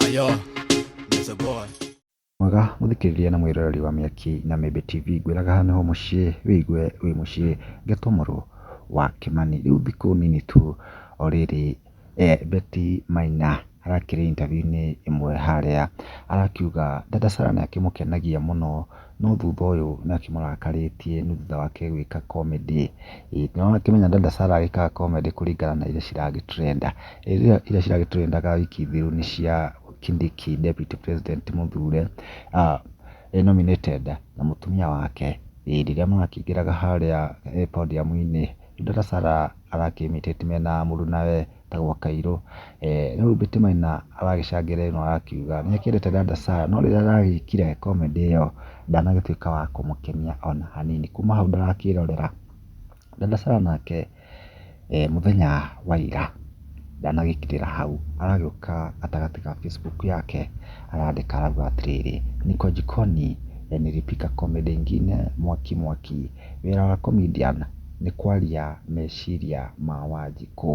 Ayo, Mr. Boy. mwega mũthikĩrĩria na mwĩroreri wa mĩaki na mĩmbe tv ngwĩraga haha nĩho mũciĩ wĩigue wĩ mũciĩ ngetomorwo wa kĩmani rĩu thikũ nini tu o rĩrĩ eh, beti maina arakĩrĩ interview-inĩ ĩmwe harĩa arakiuga dada sara nĩ akĩmũkenagia mũno No thutha ũyũ nĩ akĩmũrakarĩtie nĩ thutha wake gwĩka comedy. Nĩ ũrakĩmenya Dada Sarah agĩkaga comedy kũringana na iria ciragĩ trenda. Rĩu iria ciragĩ trendaga wiki thiru nĩ cia Kindiki Deputy President mũthure e nominated na mũtumia wake. Ĩĩ rĩrĩa marakĩingĩraga harĩa podium -inĩ, rĩu Dada Sarah arakĩĩmĩtĩti mena mũruna we. ta gwa Kairũ. No rĩu Betty Maina aragĩcangĩre ĩno akiuga nĩ akĩendete Dada Sarah no rĩrĩa aragĩkire comedy ĩyo ndanagĩtuĩka wa kũmũkenia ona hanini. Kuma hau ndarakĩrorera. Dada Sarah nake mũthenya wa ira ndanagĩkirĩra hau, aragĩũka gatagatĩ ga Facebook yake arandĩka arauga atĩrĩrĩ, Niko jikoni, nilipika comedy ingine, mwaki mwaki. Wĩra wa comedian nĩ kwaria meciria ma Wanjikũ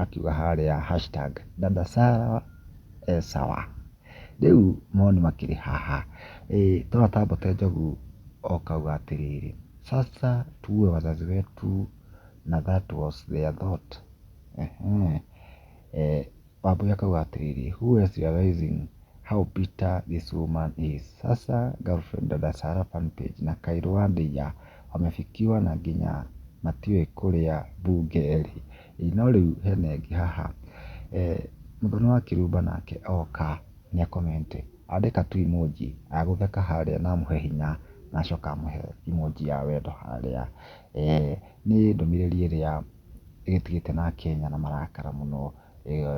akiuga harĩa hashtag dada Sarah e sawa. Rĩu mawoni makĩrĩ haha, twana ta Mbote Njogu okauga atĩrĩrĩ, sasa tuue wazazi wetu na that was their thought. Wambũi akauga atĩrĩrĩ, who else is realizing how bitter this woman is? Sasa girlfriend dada Sarah fan page na Kaylu wa Ndeiya wamefikiwa na nginya matiũĩ kũrĩa mbunge ĩrĩ. Ĩĩ no rĩu hena ĩngĩ haha, mũthoni wa kĩrumba nake oka nĩ a comment andĩka tu emoji ya gũtheka harĩa na amũhe hinya na acoke amũhe emoji ya wendo harĩa. Nĩ ndũmĩrĩri ĩrĩa ĩgĩtigĩte na Akenya na marakara mũno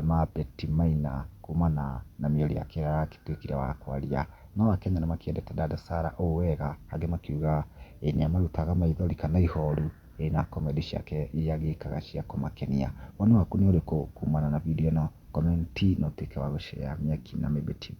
mambeti maina kumana na mĩario yake ĩrĩa aratuĩkire wa kwaria. No Akenya nĩ makĩendete Dada Sarah ũũ wega angĩ makiuga nĩ amarutaga maithori kana ihoru na comedy ciake iria agĩkaga cia kũmakenia. Woni waku nĩ ũrĩkũ kumana na video ĩno? Comment na ũtuĩke wa gũ share Mĩaki na Mĩmbi TV.